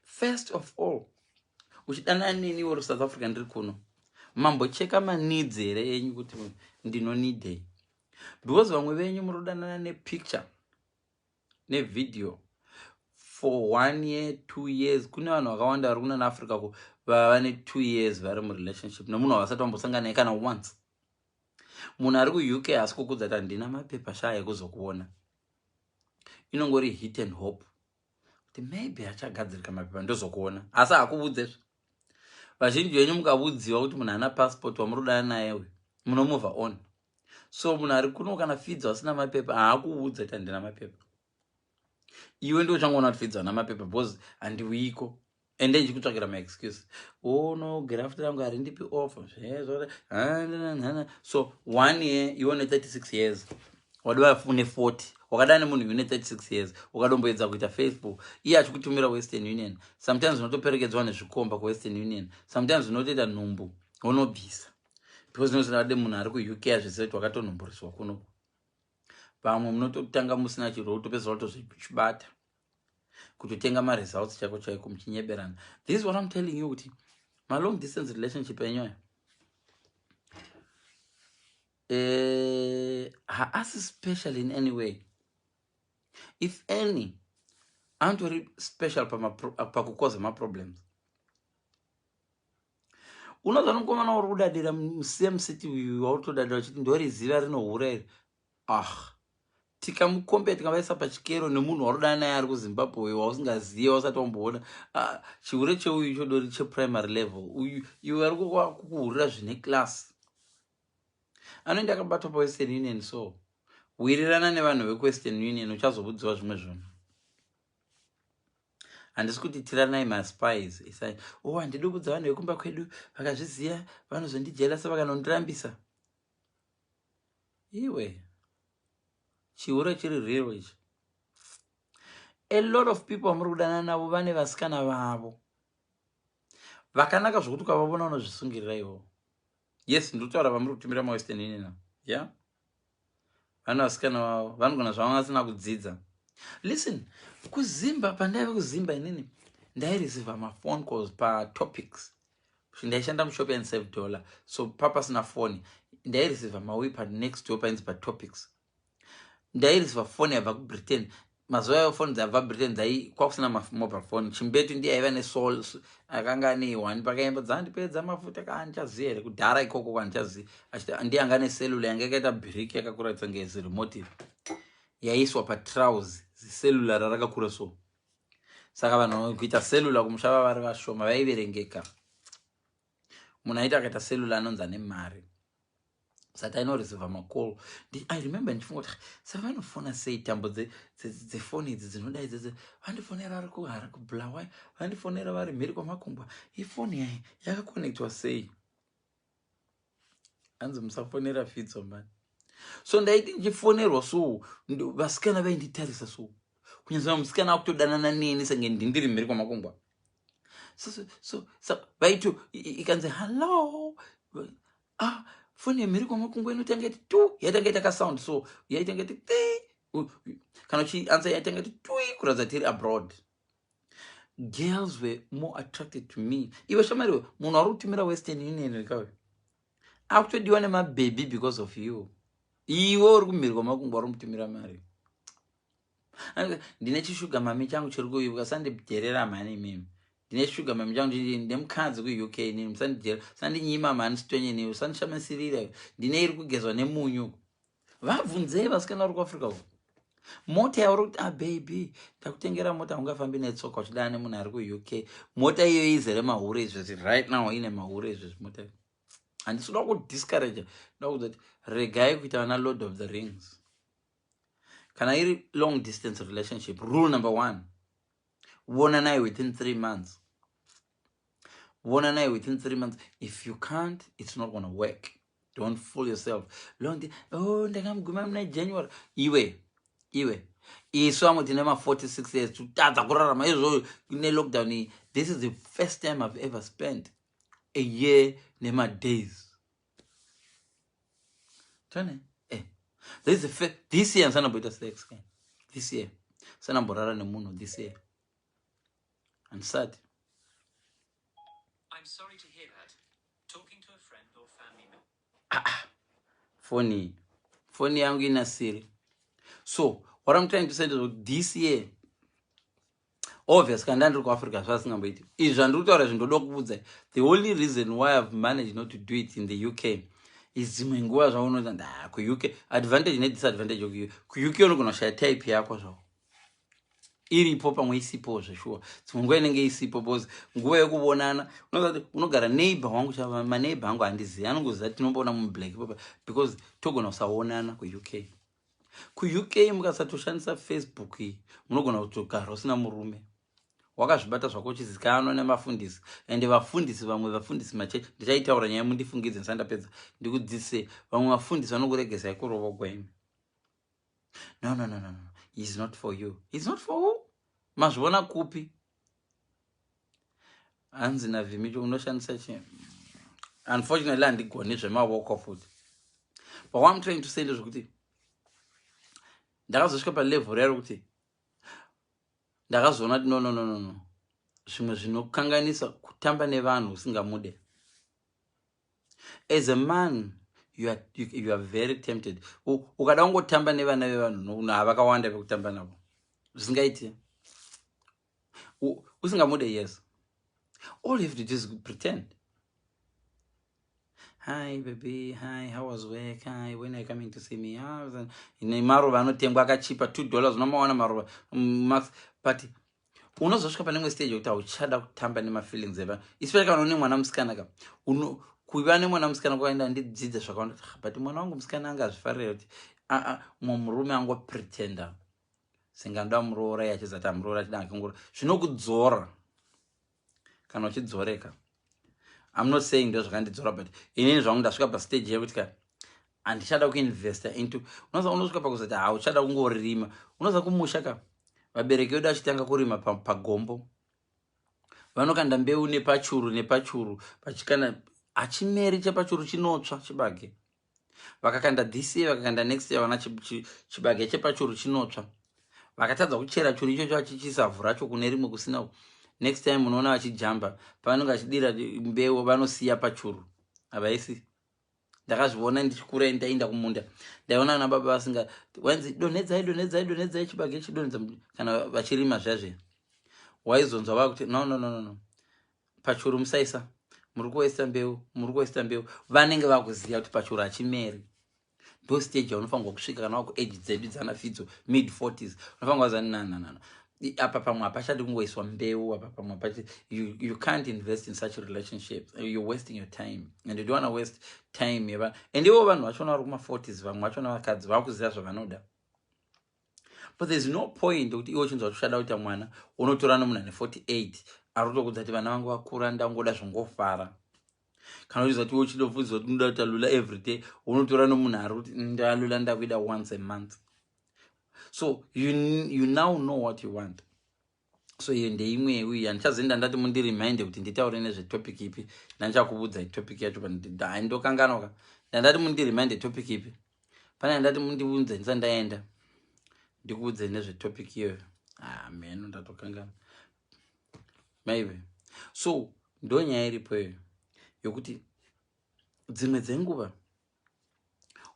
first of all uchidanana neni iwe uri south africa ndiri kuno mambocheka maneeds here enyu kuti ndinonidei because vamwe venyu muri kudanana nepicture nevideo for one year two years kune vanhu vakawanda vari kunana africa ku vava ne two years vari murelationship nemunhu wavasati vambosanganae kana once munhu ari kuuk haasi kukudza ti handina mapepa shaya ekuzokuona inongori hit and hope kuti maybe achagadzirika mapepa ndozokuona asi hakuvudzezve vazhinji venyu mukavudziwa kuti munhu ana passport wamuri kudana naye uyu munomova on so munhu ari kuno kana fidzo asina mapepa haakuudza kuti handina mapepa iwe ndo uchangoona kuti fidzo ana mapepa because handiuiko ende ndichikutsvagira maexcuse oh no graft rangu harindipi off so one year iwe une 36 years wadova une 40 wakadana nemunhu une 36 years ukadomboedza kuita facebook iye achikutumira western union sometimes unotoperekedzwa nezvikomba kuwestern union sometimes unotoita nhumbu unobvisa because nozvinade munhu ari kuuk azvese kuti wakatonhumburiswa kuno pamwe munototanga musina chirwo utopedzisira utozvibata kutotenga maresults chaiko chaiko muchinyeberana this is what i'm telling you kuti malong distance relationship enyoyo eh, haasi uh, special in any way if any antori special pakukoza maproblems unozonokomana uri kudadira musame city uyu wautodadira uchiti ndoriziva rinohura iri Ah, tikamukombea tikavaisa pachikero nemunhu waunodana naye ari kuzimbabwe uyo wausingazive wasati wamboona ah, chihure cheuyu chodori cheprimary level uyu iwe ari kukuhurira zvine class anoenda akabatwa pawestern union so wirirana nevanhu vekuwestern union uchazobudziwa zvimwe zvinhu handisi kuti tiranai maspies isai o oh, handidi kubudza vanhu vekumba kwedu vakazviziva vanozondijelasa vakanondirambisa iwe chihure chiri real ichi a lot of people vamuri kudanana navo vane vasikana vavo vakanaka zvokuti ukavavona unozvisungirira ivo yes ndotaura vamuri kutumira mawestern inina ya yeah? vane vasikana vavo vanogona zvavanga vasina kudzidza listen kuzimba pandaive kuzimba inini ndairisiva mafone calls patopics ndaishanda mushop and save dollar so papasina foni ndaireceiva mawi panext door painzi patopics ndaireceiva foni yabva kubritain mazuva ayo foni dzabva britain dzai kwakusina mobile phone chimbetu ndiye aiva nesol akanga ane one pakaimba dzandipedza mafuta kaandichaziva here kudhara ikoko kwandichaziva ndiye anga ane cellular yanga yakaita brick yakakuratidza ngezirimotive yaiswa patrouse zicellular rakakura so saka vanhu kuita selula kumusha vavari vashoma vaiverengeka munhu aita akaita selula anonzi ane mari sati ainoreseva macall i remember ndichifunga kuti saka vanofona sei tambo dzefoni idzi dzinodai dzese vandifonera vari kuhara kubulawa vandifonera vari mhiri kwamakumbwa ifoni yai yakakonectwa sei hanzi musafonera fitso mani so ndaiti ndichifonerwa so vasikana vainditarisa so kunyazaa musikana akutodanana neni senge ndindiri mhiri kwamakungwa so, so, so, so vaito ikanzi hallo ah, foni yemhiri kwamakungwa inotanga iti tu yaitanga ita kasound so yaitanga iti kana uchiansa yaitanga iti tui kuratidza tiri abroad girls were more attracted to me iwe shamari we munhu ari kutumira western union wekawe akutodiwa nemabhebhi because of you iwe uri kumhiri kwamakungwa uri mutumira mari ndine chishuga mami changu chiri kuyu ukasandidherera mhani imimi ndine shuga mami changu ndine mukadzi kuuk inini musandidherera usandinyima mhani sitonye nei usandishamisirira ndine iri kugezwa nemunyu vabvunzei vasikana vari kuafrica uko mota yauri kuti ababy ah, ndakutengera mota ungafambi netsoka uchidana nemunhu ari kuuk mota iyo izere mahure izvezvi right now ine mahure izvezvi mota handisi kuda kudiscourage nda kuudza kuti regai kuita vana lord of the rings kana iri long distance relationship rule number one vonanai within three months vonanai within three months if you can't it's not gonna work don't fool yourself long oh ndakamuguma muna january iwe iwe isu vamwe tine ma46 years totadza kurarama izvozvo kune lockdown iyi this is the first time i've ever spent a year nemadays tone eh. this, is the this year ndisanamboita sex this year ndisanamborara nemunhu this year handisati I'm sorry to hear that. Talking to a friend or family member. Ah, ah. phone phone yangu ina siri so what i'm trying to say is this year obvious kanda ndiri kuafrica zvasingamboiti izvi zvandiri kutaura izvi ndoda kuudza the only reason why i've managed not to do it in the uk is dzimwe nguva zvaunoita nda kuuk advantage nedisadvantage kuuk unogona kushaya type yako zvao iripo pamwe isipo zveshuwa dzimwe nguva inenge isipo bcause nguva yekuvonana unogara neighbor wangu chava maneighbor angu handizivi anongoziva tinomboona mublack papa because togona kusavonana kuuk kuuk mukasatoshandisa facebook iyi munogona kutogara usina murume wakazvibata zvako uchizikanwa nemafundisi ende vafundisi vamwe vafundisi machechi ndichaitaura nyaya mundifungidze ndisandapedza ndikudzise vamwe vafundisi vanokuregesai kurovogwa imi no no no no no he's not for you he's not for who mazviona kupi hanzi navhimiti unoshandisa chi unfortunately handigoni zvemawoko futi but what im trying to say ndezvekuti ndakazosvika palevel rero kuti ndakazoona kuti nonononono zvimwe zvinokanganisa kutamba nevanhu usingamude as a man you are, you, you are very tempted ukada kungotamba nevana vevanhu nokuno havakawanda vekutamba navo zvisingaiti usingamude yes all you have to do is pretend hi baby hi how was work hi when are you coming to see me ah, ine maruva anotengwa akachipa two dollars unomawana maruva mm, max but unozosvika pane imwe stage yekuti hauchada kutamba nemafeelings eva especially kana une mwana musikana ka kuiva nemwana musikana kwakaenda ndidzidze zvakawanda ah, but mwana wangu musikana anga azvifarira kuti aa ah, ah, mumwe murume angopretender senge anoda muroora ye achizati amuroora achida akangura zvinokudzora kana uchidzoreka i'm not saying ndo zvakandidzora but inini zvangu ndasvika pastage yekuti ka handichada kuinvesta into unoza unosvika pakuzati hauchada kungorima unoza kumusha ka vabereki vedu achitanga kurima pagombo vanokanda mbeu nepachuru nepachuru vachikana hachimeri chepachuru chinotsva chibage vakakanda this year vakakanda next year vana chibage chepachuru chinotsva vakatadza kuchera churu ichocho vachichisa vhu racho kune rimwe kusina next time unoona vachijamba pavanenge vachidira mbeu vanosiya pachuru havaisi ndakazviona ndichikura ndainda kumunda ndaiona ana baba vasinga wanzi donhedzai donhedzai donhedzai chibage chidonhedza kana vachirima zvazve waizonzwa vakuti no no no no no pachuru musaisa muri kuwaista mbeu muri kuwaista mbeu vanenge vakuziva kuti pachuru hachimeri ndo stage yaunofanirwa kusvika kana waku age dzedu dzana fidzo mid 40s unofanirwa kuziva nananana apa pamwe hapachadi kungoiswa mbeu apa pamwe hapachadi you, you can't invest in such relationships you're wasting your time and you don't want to waste time yeva and ivo vanhu vachona vari kuma 40s vamwe vachona vakadzi vakuziva zvavanoda but there's no point kuti iwe uchinzwa kuti uchada kuita mwana unotora nomunhu ane 48 ari kutokudza kuti vana vangu vakura ndangoda zvongofara kana uchiziva kuti iwe uchidobvunziwa kuti unoda kuita lula every day unotora nomunhu ari kuti mm, ndalula ndakuida once a month so you, you now know what you want so iyo ndeimwe uyu yandichazoenda ndati mundirimind kuti nditaure nezvetopic ipi ndandichakuvudzai topic yacho pandidai ndokanganoka ndandati mundirimind topic ipi pane yandati mundivunze ndisa ndaenda ndikuudze nezvetopic iyoyo ah, mheno ndatokangana maive so ndonyaya iripo iyoyo yokuti dzimwe dzenguva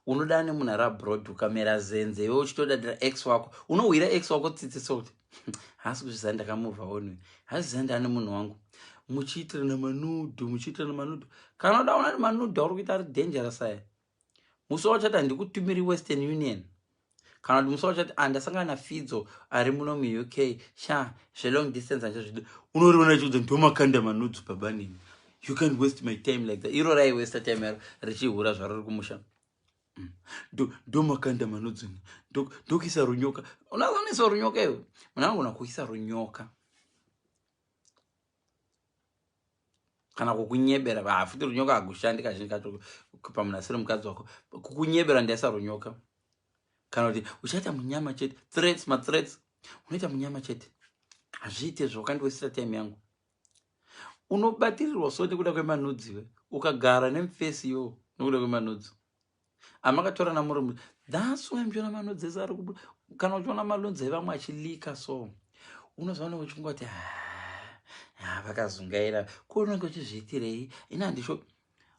unoda ane munhu ari abroad ukamera zenze iwe uchitodadira x wako unohwira x wako tsitsi so kuti haasi kuzvizani ndakamuvha onwe hazvizani ndaane munhu wangu muchiitirana manudu muchiitirana manudu kana uda una ari manudu auri kuita ari dangerous aya musi wauchati handikutumiri western union kana kuti musi wachati andasangana ah, nafidzo ari muno muuk sha zvelong distance ancha zvidi unoriona chiudza ndomakanda manudzu babanini you can waste my time like that iro raiwesta time yaro richihura zvaro ri kumusha mm. ndomakanda manudzu ndokuisa runyoka unazonaisa runyoka iyo munangona kuisa runyoka kana kukunyebera hafuti runyoka hakushandi kazhinji kacho pamunasiro mukadzi wako kukunyebera ndaisa runyoka kana kuti uchaita munyama chete threats mathreats unoita munyama chete hazviite zvokandiwesira time yangu unobatirirwa so nekuda kwemanudziwe ukagara nemfesi yo nekuda kwemanudzo amakatorana muri that's why muchiona manodzesa ari kubuda kana uchiona malonzi evamwe achilika so unozoona uchingoti ah, vakazungaira ko unenge uchizviitirei ini handisho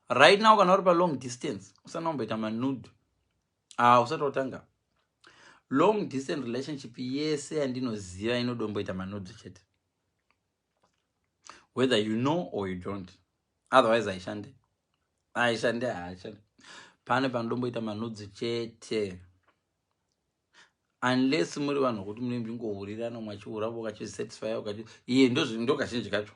right now kana uri palong distance usati wamboita manud ah, usati watanga long distance relationship yese yandinoziva inodomboita manudzo chete whether you know or you don't otherwise haishande haishande haishande pane panodomboita manudzi chete unless muri vanhu vokuti mune mbingohurirana mwachiuravo ukachisatisfya ukati iye ndo kazhinji kacho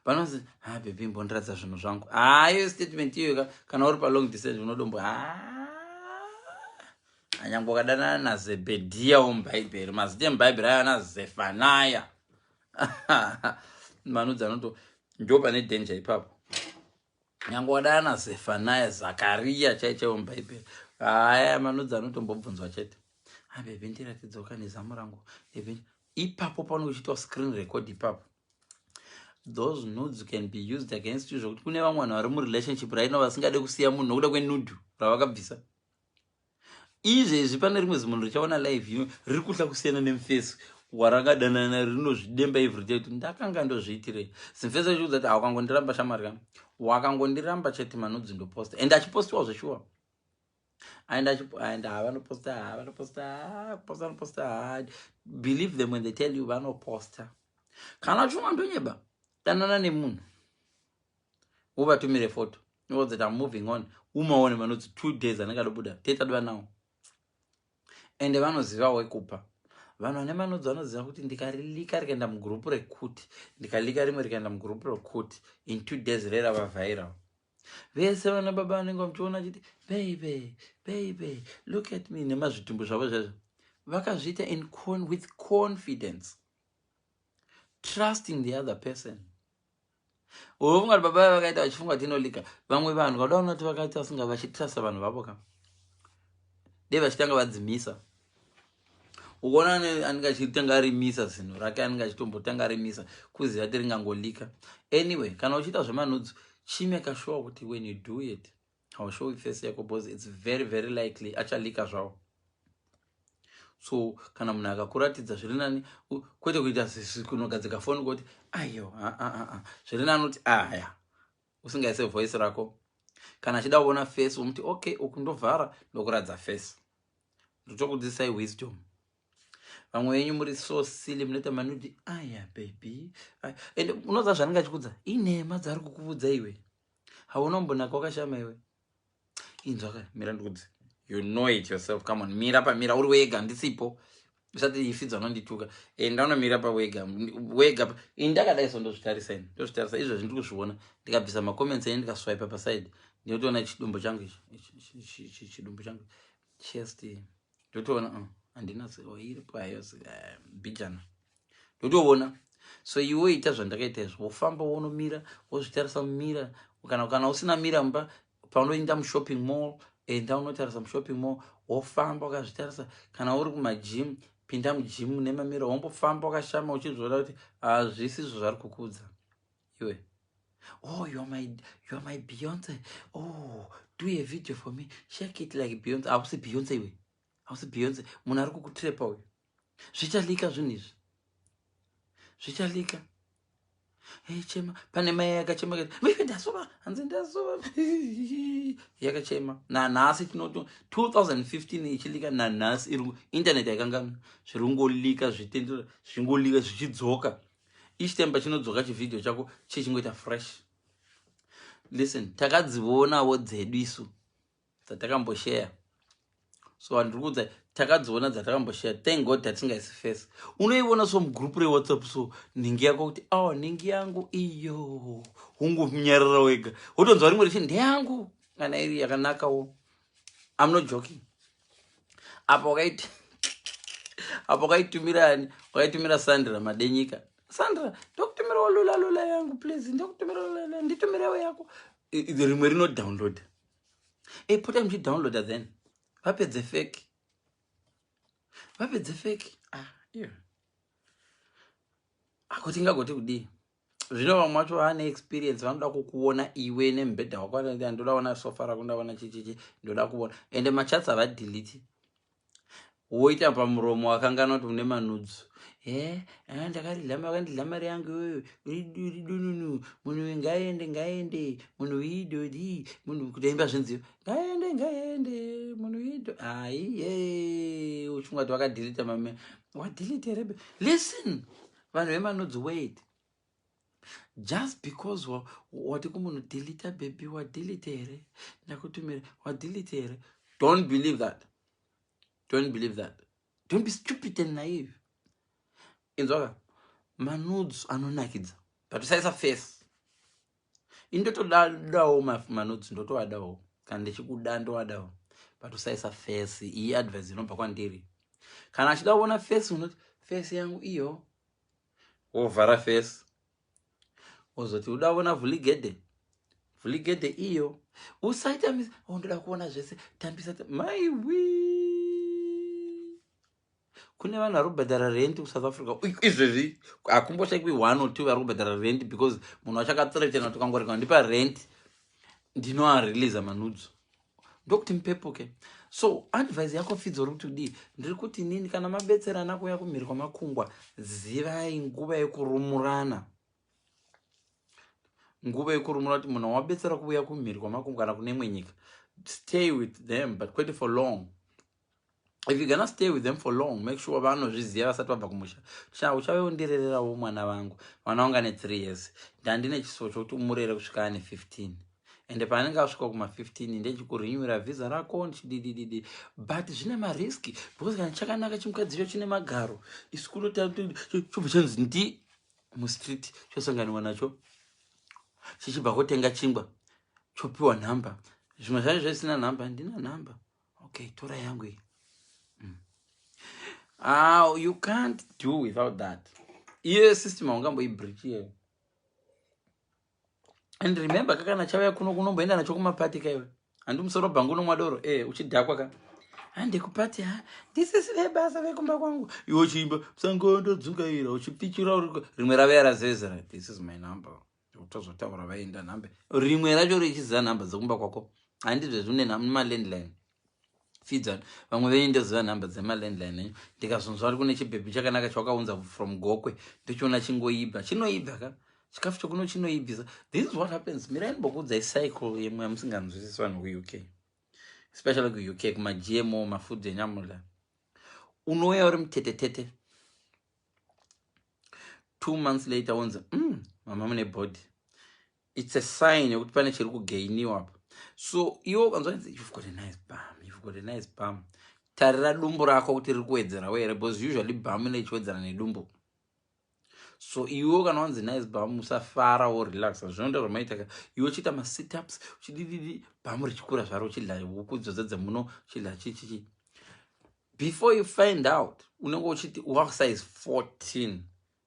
panozi ha ah, bebi mbondiratidza zvinhu zvangu haayo ah, statement iyoyoka kana uri palong distance unodombo ha ah, anyange ukadanana nazebhedhiya omubhaibheri mazita emubhaibheri ayo ana zefanaya manudzi anoto ndo pane danger ipapo nyange wadana nazefanaya zakariya chai chaiwo mubhaibheri haya manudzi anotombobvunzwa chete abebe ndiratidzoka nezamu rangu ebe ipapo pano uchitawa screen record ipapo those nudes can be used against you zvokuti kune vamwe vanhu vari murelationship right now vasingade kusiya munhu nokuda kwenudu ravakabvisa izvezvi pane rimwe zimunhu richaona live ino riri kutya kusiyana nemufesi warakadanana rinozvidemba ivi richa kuti ndakanga ndozviitirei zimufesi achiudza kuti hawakangondiramba shamwari ka wakangondiramba chete manudzi ndoposta and achipostiwa zveshuwa aenda achienda havanoposta havanoposta kuposta vanoposta believe them when they tell you vanoposta kana uchinwa ndonyeba danana nemunhu uvatumire photo uvaudze kuti am moving on umaone vanoti two days anenge adobuda tetadwa nawo ende vanoziva wekupa vanhu vane manodzo vanoziva kuti ndikalika rikaenda mugurupu rekuti ndikalika rimwe rikaenda mugurupu rekuti in two days rera vavhaira vese vana baba vanenge vamuchiona chiti baby baby look at me nemazvitumbu zvavo zvezvo vakazviita in con with confidence trusting the other person unofunga kuti baba vakaita vachifunga kuti inolika vamwe vanhu vada unoti vakaita vasinga vachitrasa vanhu vavo ka dei vachitanga vadzimisa ukaona anenge achitanga arimisa zinhu rake anenge achitombotanga arimisa kuziva kuti ringangolika anyway kana uchiita zvemanudzu chime kashuwa kuti when you do it haushowi face yako because it's very very likely achalika zvawo so kana munhu akakuratidza zviri nani kwete kuita kunogadzika foni kuti ayo zviri nani kuti aya usingaise voice rako kana achida kuona face womuti okay uku ndovhara ndokuratidza face ndotokudzisai wisdom vamwe venyu muri so silly munoita manudi aya baby and unoza zvanenge achikudza inhema dzaari kukuvudza iwe haunombonaka wakashama iwe inzwa ka mira ndikudzi you know it yourself come on mira pamira uri wega ndisipo usati ifidza unondituka enda eh, unomira pawega wega ini ndakadai so ndozvitarisa ini ndozvitarisa izvo zvindiri kuzviona ndikabvisa macomments enyu ndikaswipe paside ndinotoona chidumbu changu ichi chidumbu changu chest ndotoona uh, handina zero iripo hayo eh, bijana ndotoona so iwe woita zvandakaita izvo wofamba wonomira wozvitarisa mumira kana kana usina mira mba paunoenda mushopping mall enda unotarisa mushopping mall wofamba wakazvitarisa kana uri kumajim pinda mujimu nemamira wombofamba wakashama uchizviona kuti hazvisi izvo zvari kukudza iwe oh you're my, you're my beyonce oh do a video for me shake it like beyonce hausi beyonce iwe hausi beyonce munhu ari kukutrepa uyu zvichalika zvinhu izvi zvichalika chema pane mai yakachema kati ndasova hanzi ndasova yakachema nanhasi tinoto 2015 ichilika nanhasi irungu internet yakangamwa zvirungolika zvitendero zvingolika zvichidzoka each time pachinodzoka chivhidhio chako chichingoita fresh listen takadzivonawo dzedu isu dzatakambosheya so vanhu tiri kuudza takadziona dzatakambosheya thank god tatingaisi face unoiona so mugroup rewhatsapp so nhingi yako kuti aw oh, nhingi yangu iyo hungunyarara wega wotonzwa rimwe richi ndeyangu kana iri yakanakawo am not joking apa wakaiti apa wakaitumira ani wakaitumira sandra madenyika sandra ndokutumirawo lula lula yangu please ndokutumira lula nditumirewo yako rimwe rinodownloada ipota muchidownloada then vapedze feki vapedze feki ah, yeah. akuti ngagoti kudii zvino vamwe vacho vaane experience vanoda kukuona iwe nemubhedha wako ndoda ona sofa rako ndaona chichichi ndoda kuona ende machatsi havadeliti woita pamuromo wakangana kuti une manudzu eh, ah, ndakandidlama wakandidla mari yangu iyoyo ridu ridu nunu munhu uyu ngaende ngaende munhu uidodi munhu kutoimba zvinziyo ngaende ngaende munhu uido aiye uchinga kuti wakadhilita mame wadhilita rebe listen vanhu vemanudzi wait just because wati kumunhu delita baby wadelite here ndakutumira wadelite here don't believe that don't believe that don't be stupid and naive inzwaka manudes anonakidza but usaisa face indotodawo manudes ndotoadawo kana ndichikuda ndowadawo but usaisa face iyi advice inobva kwandiri kana achida kuona face unoti face yangu iyo wovhara face wozoti uda kuona vhuligedhe vhuligedhe iyo usaita mis oh, ndoda kuona zvese tambisa maiwi kune vanhu vari kubhadhara rendi kusouth africa izvezvi hakumboshaiwi one or two vari kubhadhara rendi because munhu achakatsira chena kuti kangorega ndipa rendi ndinoareleasa manudzo ndokuti mupepuke so advise yako fidzo uri kuti udii ndiri kuti nini kana mabetserana kuuya kumhiri kwamakungwa zivai nguva yekurumurana nguva yekurumura kuti munhu wabetsera kuuya kumhiri kwamakungwa kana kune imwe nyika stay with them but kwete for long if you gonna stay with them for long make sure vanozviziva vasati vabva kumusha cha uchave undirererawo mwana vangu mwana wangu ane three years ndandine chisivo chokuti umurere kusvika ane 15 ende paanenge asvika kuma-15 ndechikurinywira vhiza rako ndichididididi but zvine mariski because kana chakanaka chimukadzi cho chine magaro isu kunochobva chanzi ndi mustreet chosanganiwa nacho chichibva kotenga chingwa chopiwa nhamba zvimwe zvacho zvaisina nhamba handina nhamba Okay, tora yangu iyi. Mm. Ah, you can't do without that. Iye system haungamboibreach iyeyo. And remember kakana chauya kuno kunomboenda nacho kumapati kaiwe. Handi musoro bhangu unomwa doro. Eh, uchidhakwa ka. Handi kupati ha. This is the basa vekumba kwangu. Iwe uchiimba sango ndodzungaira uchipichura uri rimwe rave yarazezera. This is my number. tozotaura vaenda nhamba rimwe racho richiziva nhamba dzekumba kwako handizvezvi une malandline fidzan vamwe venyu ndoziva nhamba dzemalandline enyu ndikazonzwa ari kune chibhebhi chakanaka chawakaunza from gokwe ndochiona chingoibva chinoibva ka chikafu chokuno chinoibvisa this is what happens mirai mbokuudzai cycle yemwe yamusinganzwisisi vanhu kuuk especially kuuk kumagmo mafood enyamula unouya uri mutetetete two months later wonzi mm, mama mune body its a sign yekuti pane chiri kugainiwa apa so iwo ukanzwanzi you've got a nice bam you've got a nice bam tarira dumbu rako kuti riri kuwedzerawo here because usually bam ine ichiwedzera nedumbu so iwo kana wanzi nice bam usafara wo relax zvinoita zvamaitaka iwo uchiita masitups uchidididi bam richikura zvaro uchidla huku dzodzo dzemuno uchidla chichichi before you find out unenge uchiti wakusize 14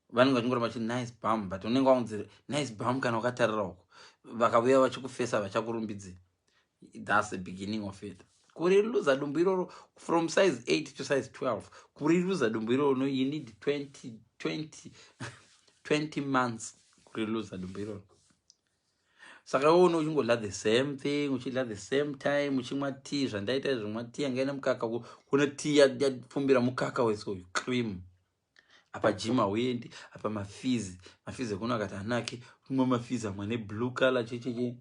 vanenge vachingoramba chiti nice bam but unenge waunzi nice bam kana ukatarira uko vakavuya vachikufesa vachakurumbidzi thats the beginning of it kuriruza dumbu iroro from size 8 to size 12 kuriruza dumbu iroro no you need 20 20 20 months kuriruza dumbu iroro saka iwe une uchingodla the same thing uchidla the same time uchimwa tea zvandaita zvimwa tea yanga ine mukaka kune tea yapfumbira mukaka wese uyu cream apa jim hauendi apa mafizi mafizi ekuno akati anake umwe mafizi amwe ane blue color checheche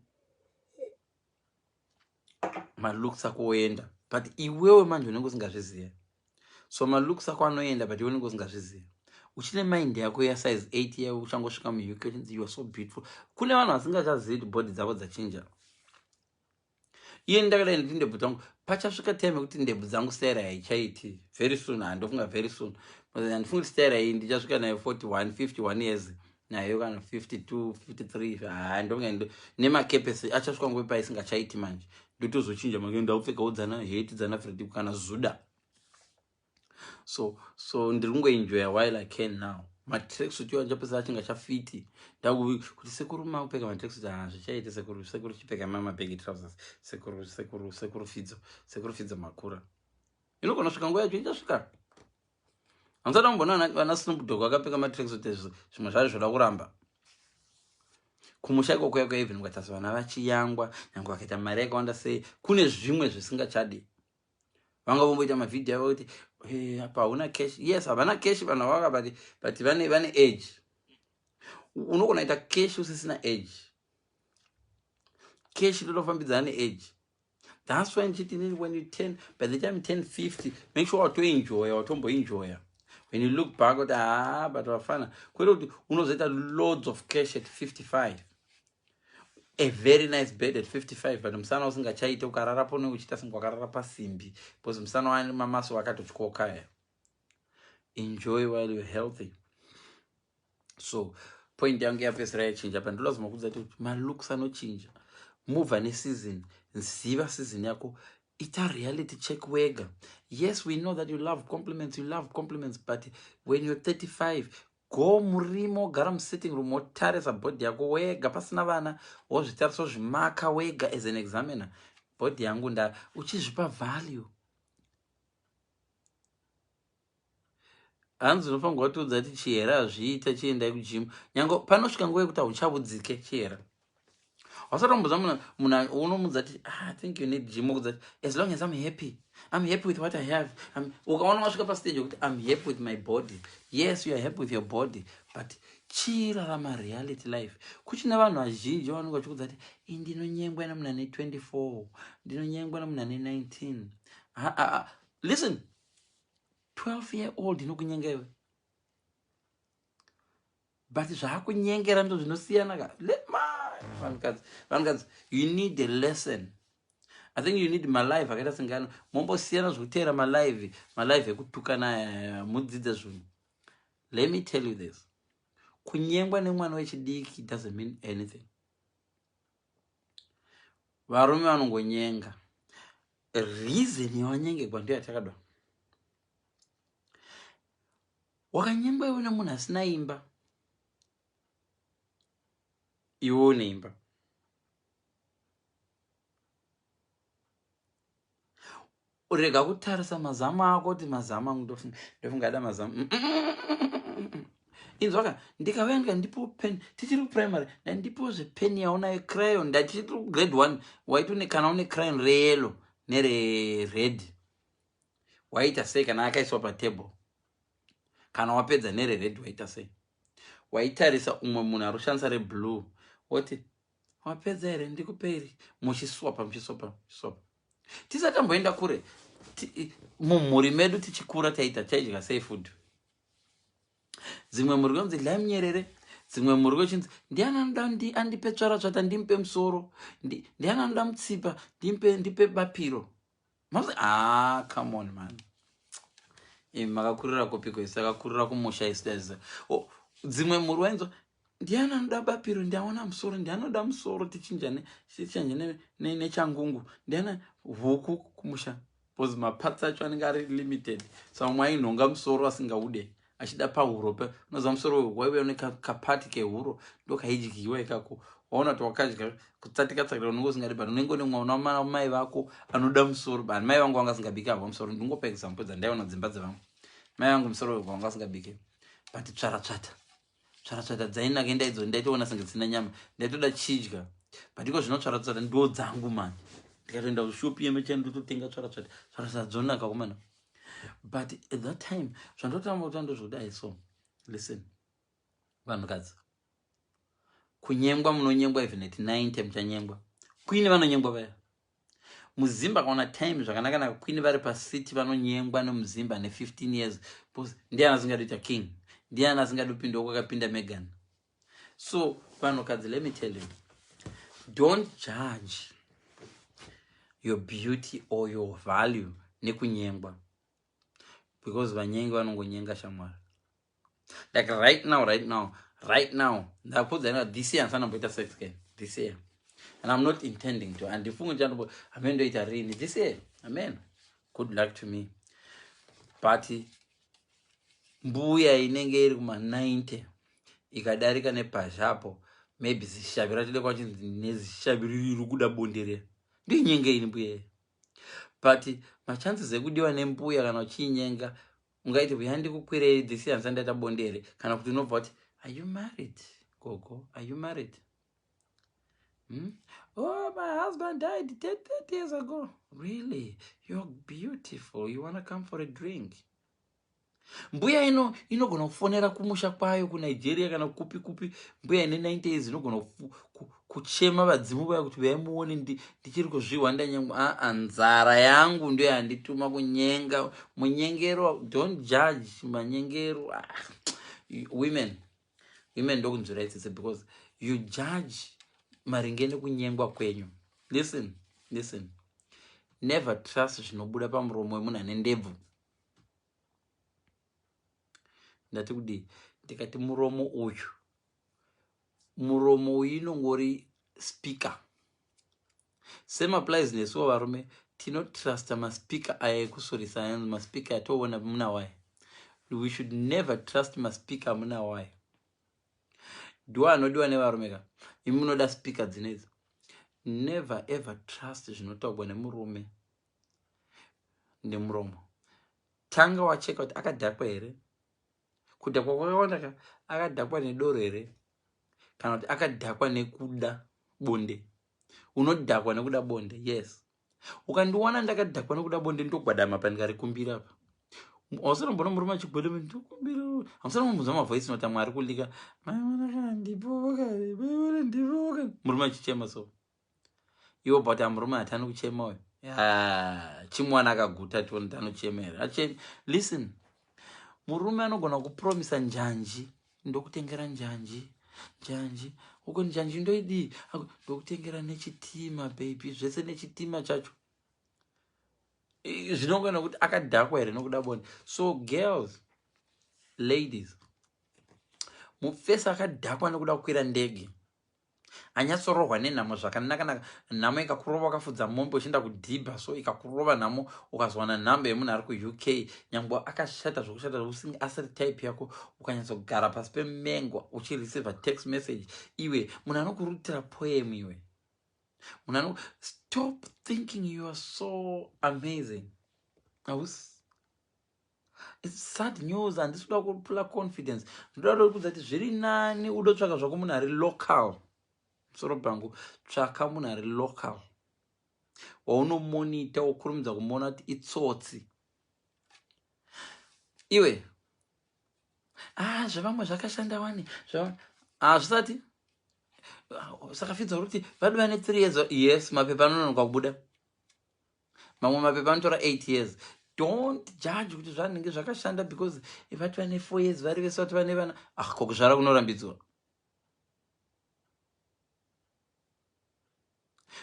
malooks ako oenda but iwewe manje unenge usingazviziva so malooks ako anoenda but iwe unenge usingazviziva uchine mind yako ya size 8 yaiwe uchangosvika muuk uchinzi you are so beautiful kune vanhu vasingachazivi kuti body dzavo dzachinja iye ndakadai nditi ndebvu dzangu pachasvika time yekuti ndebvu dzangu stera haichaiti very soon handofunga very soon andifunga kuti stera iyi ndichasvika nayo 41 51 years mm. nayo kana 52 53 haa ndonge nemakepesi achasvika nguve paisingachaiti manje ndotozochinja make ndaupfeka udzana heti dzana fredi kana zuda so so ndiri kungoenjoya while i can now matracksuit iwa ndichapesa achinga chafiti ndakuvi kuti sekuru makupfeka matracksuit haa zvichaite sekuru sekuru chipfeka mamabegi trousers sekuru sekuru sekuru fidzo sekuru fidzo makura inogona svika nguva yacho ichasvika hamusada kumboona vana snoop dog vakapfeka matracksuit ezvo zvimwe zvazvo zvoda kuramba kumusha ikoko yako even ukatasa vana vachiyangwa nyange vakaita mari yakawanda sei kune zvimwe zvisingachadi vanga vomboita mavhidhio avo kuti eh, apa hauna cash yes havana cash vanhu avaka but but vane vane age unogona ita cash usisina age cash totofambidzana neage thats why ndichiti inini when you ten by the time 1050 make sure watoenjoya watomboenjoya when you look back kuti haa ah, but vafana kwete kuti unozoita loads of cash at 55 a very nice bed at 55 but musana usingachaite ukarara pone uchiita singe wakarara pasimbi because musana wani mamaso wakatotyokaya enjoy while you're healthy so point yangu yapesera yachinja pa ndinoda zvomakudza kuti malooks anochinja move ane season ziva season yako ita reality check wega yes we know that you love compliments you love compliments but when you're 35 go murimo gara musitting room wotarisa body yako wega pasina vana wozvitarisa wozvimaka wega as an examiner body yangu nda uchizvipa value Hanzi unofanirwa kutiudza kuti chihera hazviite chiendai kugym. Nyange panosvika nguva yekuti hauchabudzike chihera. Wasatombudza munhu munhu unomudza kuti ah, I think you need gym okudza as long as I'm happy. I'm happy with what I have. Ukaona wasvika pa stage yekuti I'm happy with my body. Yes, you are happy with your body, but chirarama reality life. Kuchine vanhu vazhinji vanenge vachikudza kuti indinonyengwa nemunhu ane 24, ndinonyengwa nemunhu ane 19. Ha, ha, ha. Listen, 12 year old inokunyenga iwe but zvaakunyengera ndo zvinosiyana ka vanhukadzi vanhukadzi you need a lesson i think you need malive akaita sengano mombosiyana zvekuteera malive malive ekutukana eh, mudzidze zvinhu let me tell you this kunyengwa nemwana wechidiki doesn't mean anything varume vanongonyenga reason yawanyengegwa ndiyo yatakadwa wakanyengwa iwe nemunhu asina imba iwe une imba Urega kutarisa mazamu ako kuti mazamu angu ndofunga ndofunga ada mazamu. Mm, mm, mm, Inzwa ka ndikauya ndika ndipo pen tichiri kuprimary dai ndipo zvepen yaunayo crayon dai tichiri kugrade one waiti une kana une crayon reyellow nerered waiita sei kana akaiswa patable kana wapedza nerered waiita sei waitarisa umwe munhu ari kushandisa reblue woti Mapedza here ndikupe iri muchiswapa muchiswapa muchiswapa. Tisati tamboenda kure mumhuri medu tichikura taita taidya sei food. Dzimwe mhuri kunzi dlai munyerere dzimwe mhuri kwechinzi ndiani anoda andipe tsvara tsvata ndimupe musoro ndiani anoda mutsipa ndipe ndipe bapiro Mams, ah, come on man. Imi makakurira kupiko isu takakurira kumusha isu taiziva. Oh, dzimwe mhuri wainzwa ndiani anoda bapiro ndiaona musoro ndianoda musoro tichinjane tichanje ne, ne, nechangungu ndiana huku kumusha because maparts acho anenge ari limited so amwe ainhonga musoro asingaude achida pahuro pa unoziva musoro uyu waive une kapati kehuro ndokaidyiwa ikako waona kuti wakadya kutsatika tsakira unenge usingadi but unenge une mwana wamana mai vako anoda musoro but mai vangu vanga singabike havo musoro ndingopa example dzandaiona dzimba dzevamwe mai vangu musoro uyu vanga singabike but tsvara tsvata tsvara tsvata dzainaka indaidzo ndaitoona senge dzina nyama ndaitoda chidya but iko zvino tsvara tsvata ndo dzangu mani ndikatoenda kushopi yemechani ndototenga tsvara tsvata tsvara tsvata dzonaka kumana but at that time zvandotamba kuta ndozvodai so listen vanhukadzi kunyengwa munonyengwa even at 90 muchanyengwa kwini vanonyengwa vaya muzimba kaona time zvakanaka naka kwini vari pacity vanonyengwa nemuzimba ne 15 years bcause ndiani asingadi kuita king ndiani asingadi kupindawo kwakapinda megan So vanhukadzi let me tell you don't judge your beauty or your value nekunyengwa because vanyengi vanongonyenga shamwari like right now right now right now ndakuudzana this year ndisana mboita sex can this year and i'm not intending to and ifungu chandobo amen ndoita rini this year amen good luck to me but mbuya inenge iri kuma 90 ikadarika nepazhi apo maybe zishavi ratide kwachinzi nezishavi riri rikuda bonde riya ndinyenga ini mbuya iyi but machances ekudiwa nembuya kana uchiinyenga ungaiti mbuya ndikukwirei this yansa ndaita bonde here kana kuti unobva kuti are you married gogo are you married hmm? oh my husband died 30 years ago really you're beautiful you wanna come for a drink mbuya ino inogona kufonera kumusha kwayo kunigeria kana kupi kupi mbuya ine 90 years inogona kuchema vadzimu vaya kuti vaimuone ndichiri kuzvihwa ndanyangwa aa ah, ah, nzara yangu ndo yandituma kunyenga munyengero don't judge manyengero ah, women women ndokunzwira itsitse because you judge maringe nekunyengwa kwenyu listen listen never trust zvinobuda pamuromo wemunhu ane ndebvu ndati kudii ndikati muromo uyu muromo uyu inongori speaker semaplies nesuwo varume tinotrusta maspeaker aya ekusurisa ayanzi maspeaker atoona muna waye we should never trust maspeaker muna waye ndiwo anodiwa nevarume ka imunoda speaker dzinedzi never ever trust zvinotaugwa nemurume nemuromo tanga wacheka kuti akadhakwa here kudhakwa kwakawanda ka akadhakwa nedoro here kana kuti akadhakwa nekuda bonde unodhakwa nekuda bonde yes ukandiwana ndakadhakwa nekuda bonde ndogwadama pandikarikumbira pa ausanomboona murume achigwada ndikumbira ausanombomuza mavoice nota mwari kulika maiwanaka ndipoka maiwana ndipoka murume achichema so iwo but amurume hatani kuchema uyo chimwana akaguta tione tanochema here achemi listen murume anogona kupromisa njanji ndokutengera njanji njanji uko njanji ndoidii ndokutengera nechitima baby zvese nechitima chacho zvinongana kuti akadhakwa here nokuda boni so girls ladies mufesi akadhakwa nekuda kukwira ndege anyatsorohwa nenhamo zvakanaka naka nhamo ikakurova wakafudza mombe uchienda kudhibha so ikakurova nhamo ukazowana nhamba yemunhu ari kuuk nyangwe akashata zvokushata zvokusing asiri type yako ukanyatsogara pasi pemengo uchireceiva text message iwe munhu anokurutira poem iwe munhu ano stop thinking you are so amazing hausi It's sad news handisi kuda kupula confidence ndinoda kuda kudza kuti zviri nani udotsvaka zvako munhu ari local musoro bhangu tsvaka munhu ari local waunomonita wokurumidza kumona kuti itsotsi iwe ah zvevamwe zvakashanda wani hazvisati ah, saka fidza uri kuti vadi vane three years yes mapepa anononoka kubuda mamwe mapepa anotora 8 years don't judge kuti zvanenge zvakashanda because vati vane 4 years vari vese vati vane vana ah ko kuzvara kunorambidzwa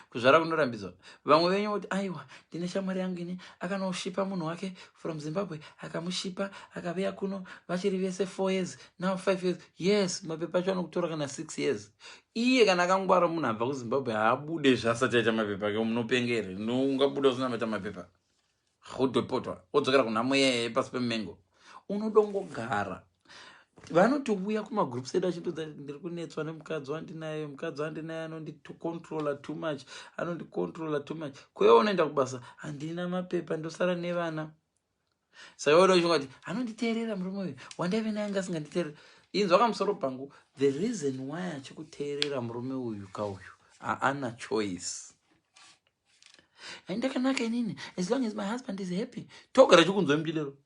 kuzvara kunorambidzwa vamwe venyu voti aiwa ndine shamwari yangu ini akanoshipa munhu wake from zimbabwe akamushipa akaviya kuno vachiri vese 4 years now 5 years yes mapepa acho anokutora kana 6 years iye kana akangwara munhu abva kuzimbabwe haabude zvaasati aita mapepa ke munopenga here ungabuda usina maita mapepa odepotwa odzokera kunhamo yeye pasi pemengo unodongogara vanotouya kumagroups edu achitodza ndiri kunetswa nemukadzi wandinaye mukadzi wandinaye anondicontrola too much anondicontrola too much kwewe unoenda kubasa handina mapepa ndosara nevana saka iwe unoshunga kuti anonditeerera murume uyu wandaive naye anga asinganditeerera inzwa kamusoro pangu the reason why achikuteerera murume uyu kauyu haana choice aindakanaka inini as long as my husband is happy togara chikunzwa mjilero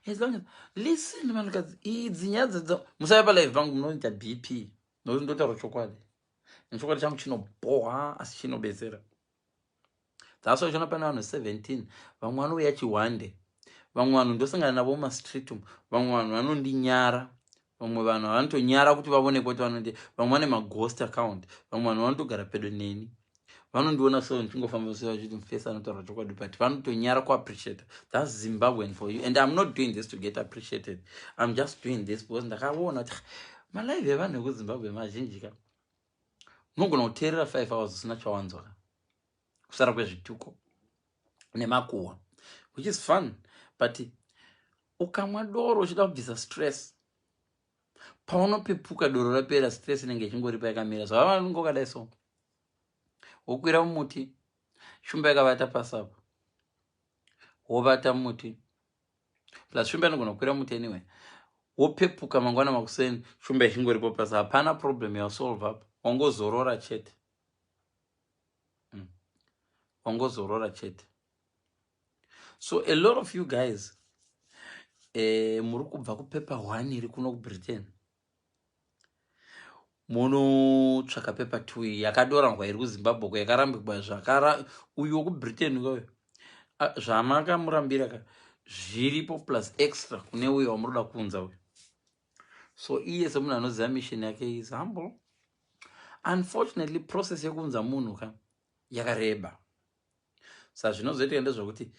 as long as listen vanhukadzi idzi nyaya dzadzo musave palive pangu munoita bp nokuti ndotaura chokwadi nechokwadi changu chinobhoha asi chinobetsera that's why uchiona pane vanhu 17 vamwe vanouya chihwande vamwe vanhu ndosangana navo mumastreet umu vamwe vanhu vanondinyara vamwe vanhu vanotonyara kuti vavoneke kuti vanondi vamwe vane maghost account vamwe vanhu vanotogara pedo neni vanondiona so ndichingofamba so vachiti mufesi anotaura chokwadi but vanotonyara kuappreciata thats zimbabwean for you and im not doing this to get appreciated im just doing this because ndakaona kuti ah, malive evanhu ekuzimbabwe mazhinjika unogona kuteerera five hours usina chawanzwa ka kusara kwezvituko nemakuhwa which is fun but ukamwa doro uchida kubvisa stress paunopepuka doro rapera stress inenge ichingoripa yakamira zvava vanonge ukadai so wokwira mumuti shumba yakavata pasapo wovata mumuti plus shumba inogona kukwira muti anyway wopepuka mangwana makuseni shumba ichingoripo plus hapana problem yasolve up wangozorora chete mm. wangozorora chete so a lot of you guys eh, muri kubva kupepa hwaniri kuno kubritain munotsvaka paper two yakadoranwa iri kuzimbabwe ko yakarambigwa zvakara uyu wekubritain uyoyo zvamakamurambira ka zviripo plus extra kune uyo wamunoda kuunza uyo so iye semunhu anoziva mission yake is humble unfortunately process yekuunza munhu ka yakareba sa zvinozoitika ndezvekuti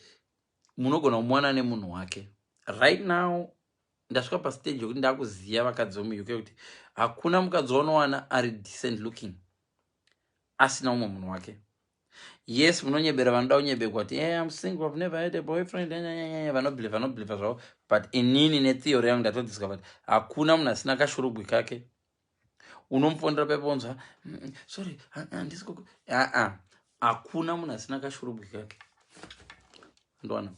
munogona kumuwana nemunhu wake right now ndasvika pastage yekuti ndakuziva vakadzi vemuuk kuti hakuna mukadzi waunowana ari decent looking asina umwe munhu wake yes munonyebera vanoda kunyebekwa kuti hey, eh, im single ive never had a boyfriend vanobeliva vanobeliva zvavo but inini netheory yangu ndatodiscover kuti hakuna munhu asina kashurugwi kake unomufonera pepe unzwa sorry handisi kuku aa hakuna munhu asina kashurubwi kake ndoona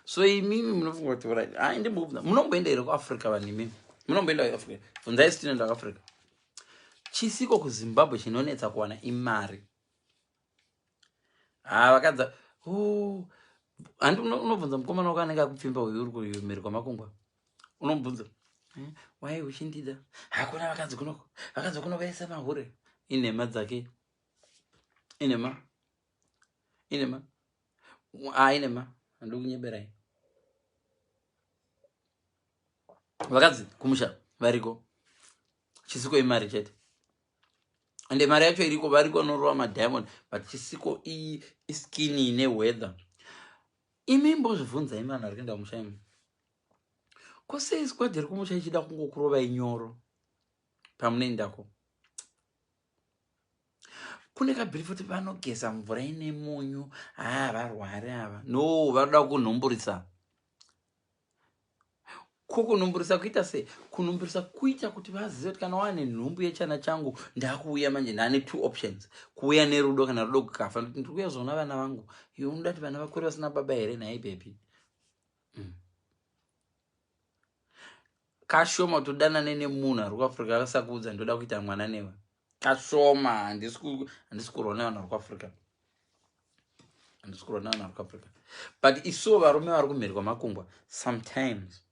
so imimi munofunga kuti urai ai ndimbofunga munomboenda here kuafrica vanhu imimi munomboenda kuafrica funzai sitinoenda kuafrica chisiko kuzimbabwe chinonetsa kuwana imari ha ah, vakadza handi unobvunza mukomana wako anenge akupfimba uyu uri kumhiri kwamakungwa unobvunza eh, wai uchindida hakuna vakadzi kunoko vakadzi kuno vaisa mahure inhema dzake inhema inhema a ah, inhema handi kunyeberai vakadzi kumusha variko chisiko imari chete ende mari yacho iriko variko norova madiamond but chisiko iyi iskin ine weather imi mbozvibvunza imi vanhu vari kuenda kumusha imi ko sei squad iri kumusha ichida kungokurova inyoro pamunoendako kune kabhiri futi vanogeza mvura ine munyu haa varwari ava no vanoda kunhumburisa ko kunumburisa kuita sei kunumburisa kuita kuti vazive kuti kana wane nhumbu yechana changu ndakuuya manje ndane two options kuuya nerudo kana rudo kukafa ndokuti ndiri kuuya kuzoona vana vangu iwe unoda kuti vana vakure vasina baba here nhai bebi mm. kashoma kuti udanane nemunhu ari kuafrica akasakuudza ndoda kuita mwana newe kashoma handisi kurwa nevanhu vari kuafrica handisi kurwa nevanhu vari kuafrica but isuwo varume vari kumhiri kwamakungwa sometimes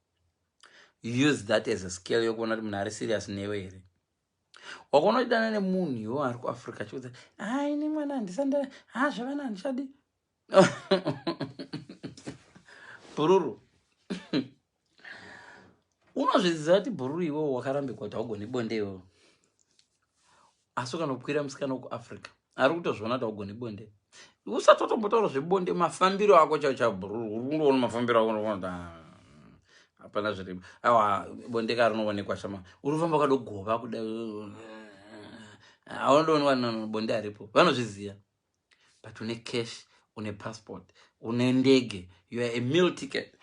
use that as a scale yokuona kuti munhu ari serious newe here wakaona uchidana nemunhu iwo ari kuafrica chiudza ha ah, ini mwana handisanda ha ah, zvevana handichadi bhururu unozviziva kuti bhururu iwewo wakarambikwa kuti haugoni bonde iwewo asi ukanokwira musikana wekuafrica ari kutozviona kuti haugoni bonde usati watombotaura zvebonde mafambiro ako chao chao bhururu uri kundoona mafambiro ako ndokuti ah, hapana zviri awa bonde ka rinoonekwa shama uri kufamba ukadogova kuda eh, eh, eh, aundooni vanhu bonde haripo vanozviziva but une cash une passport une ndege you are a meal ticket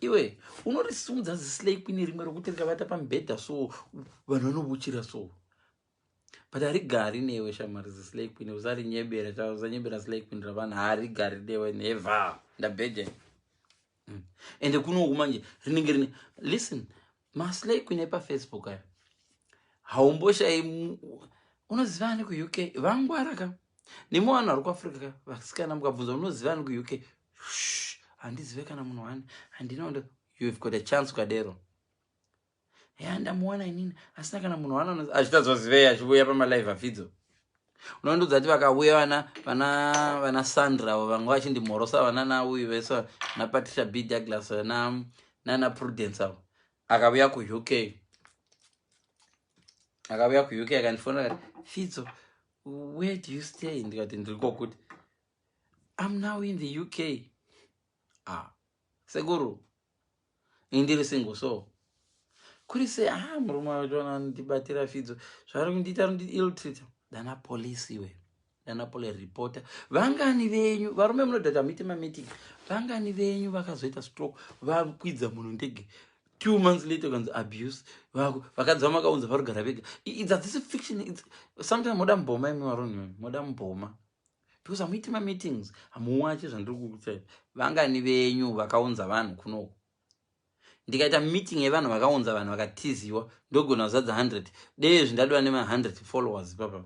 iwe unorisimudza zislay queen rimwe rokuti rikavata pamubhedha so vanhu vanobuchira so but harigari newe shamari zislay queen usarinyebera tauzanyebera slay queen ravanhu harigari newe never ndabhedhe mm. ende kunoku manje rinenge rine listen maslay queen epafacebook ayo haumboshai unoziva ani kuuk vangwara ka nemi vanhu vari kuafrica ka vasikana mukabvunza unoziva ani kuuk handizive kana munhu wani handina ndo you've got a chance ukadero ya ndamuwana inini asina kana munhu waana achitadzwa zivei achivuya pamalive afidzo unondudza ti vakavuya vana vana vana sandra avo vanga vachindimhorosa vanana uyu vese napatricia b douglas na nana prudence avo akavuya kuuk akavuya kuuk akandifonera kati fidzo where do you stay ndikati ndiri kokuti am now in the uk ah sekuru ini ndiri single so kuri se ah murume wacho anondibatira fidzo zvaari kundiita ari kundi ill treat dana police iwe dana pole reporter vangani venyu varume munodhata muite mameeting vangani venyu vakazoita stroke vakwidza munhu ndege two months later kanzi abuse vako vakadzi vamakaunza varugara vega it's a this fiction it's sometimes moda mboma imi varunhu moda mboma because hamuiti mameetings hamuwache zvandiri kukutai vangani venyu vakaunza vanhu kunoku ndikaita meeting yevanhu vakaunza vanhu vakatiziwa ndogona kuzadza 100 dezvi ndadova nema100 followers papa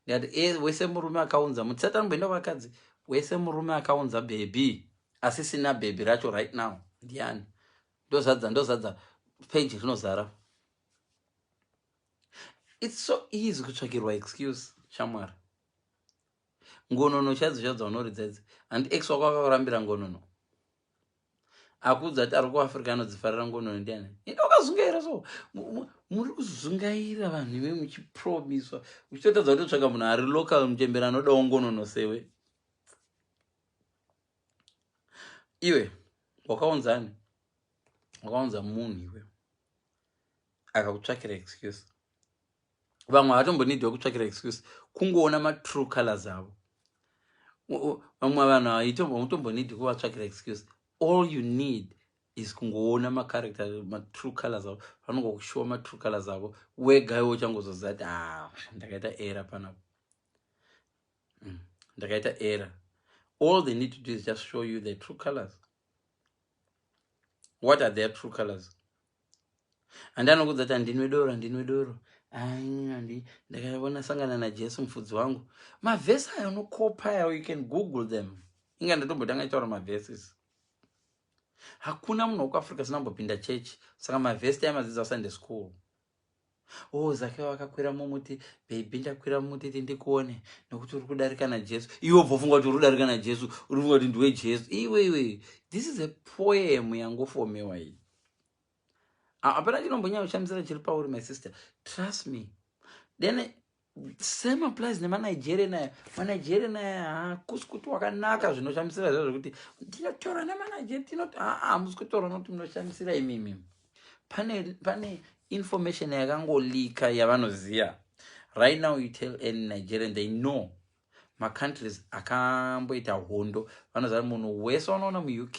ndikati e wese murume akaunza mutisatani kuenda vakadzi wese murume akaunza bhebhi asisina bhebhi racho right now ndiani ndozadza ndozadza page rinozara its so easy kutsvakirwa excuse shamwari ngonono chaidzo chaidzo dzaunoridza idzi handi ex wako akakurambira ngonono akuudza kuti ari kuafrica anodzifarira ngonono ndiani ende wakazungaira so muri kuzungaira vanhu ive muchipromiswa uchitotadza kutotsvaka munhu ari local muchembera anodawo ngonono sewe iwe wakaunzani wakaunza munhu iwe akakutsvakira excuse vamwe havatombonidhiwa kutsvakira excuse kungoona matrue colors avo vamwe vanhu hautombonidhi kuvatsvakira excuse all you need is kungoona macharacter matrue colors avo vanongokushuwa matrue colors avo wega iwe uchangozoziva kuti ah, ndakaita era panapo mm, ndakaita era all they need to do is just show you the true colors what are their true colors handi anokudza kuti handinwe doro handinwe doro andi ndakaona sangana najesu mufudzi wangu mavhesi aya unokopa yawo you can google them inga ndatombotanga itaura mavhesis hakuna munhu wekuafrica sina kumbopinda chechi saka mavhesi taimadzidza sunday school Oh, Zakeo akakwira mumuti, baby ndakwira mumuti ti ndikuone nokuti uri kudarika naJesu. Iwe bvofunga kuti uri kudarika naJesu, uri kufunga kuti ndiwe Jesu. Iwe iwe, this is a poem yangofomewa iyi. Hapana chinombonyanya kushamisira chiri pauri my sister. Trust me. Then same applies nemanigerian aya manigerian aya haakusi kuti wakanaka zvinoshamisira zva zvekuti tinotaura nemanigeria tinoti aa hamusi kutaura nokuti munoshamisira imimi pane pane information yakangolika yavanoziva right now you tell any nigerian they know macountries akamboita hondo vanoziva kuti munhu wese wanoona muuk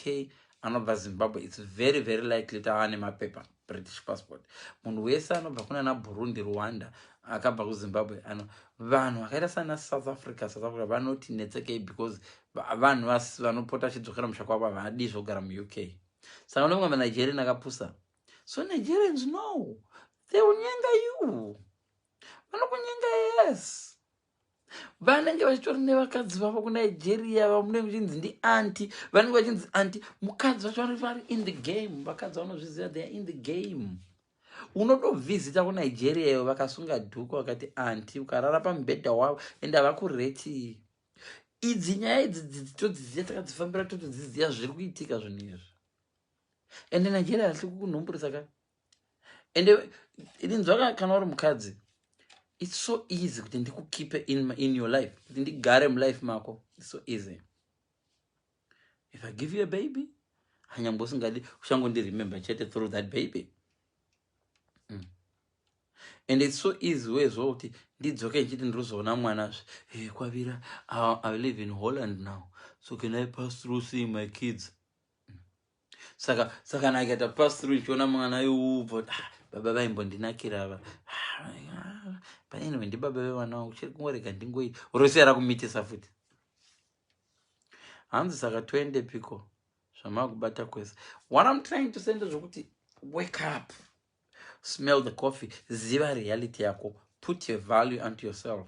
anobva zimbabwe its very very likely kuti ava nemapepa british passport munhu wese anobva kunana burundi rwanda akabva kuzimbabwe ano vanhu vakaita sana south africa south africa vanoti netsekei because vanhu vanopota vachidzokera musha kwavo havadi zvogara muuk saka unomwe manigerian akapusa so nigerians no they will nyenga you vanokunyenga yes vanenge vachitori nevakadzi vavo kunigeria vamunenge muchinzi ndianti vanenge vachinzi anti mukadzi vacho vanoti vari in the game vakadzi vanozviziva theyare in the game unotovhizita kunigeria iyo vakasunga dhuku vakati anti ukarara pamubhedha wavo and havakureti idzi nyaya idzi dzidzi todziziva takadzifambira totodziziva zviri kuitika zvinhu izvi and nigeria hasi kukunhumburisa ka ende ndinzwa kana uri mukadzi its so easy kuti ndikukipe in, in your life kuti ndigare mulife mako its so easy if i give you a baby hanyangwe usingadi uchangondiremember chete through that baby mm. and its so easy wezvo kuti ndidzoke ndichiti ndiruzoona mwana zve hey, eh, kwavira i live in holland now so can i pass through seeing my kids saka saka kana akaita pass through ichiona mwana yeuvo ah, baba vaimbondinakira ava ah, paine vendi baba vevana vangu chiri kungorega ndingoi rosiya rakumitisa futi hanzi saka toende piko zvamakubata kwese what im trying to send zvekuti wake up smell the coffee ziva reality yako put your value unto yourself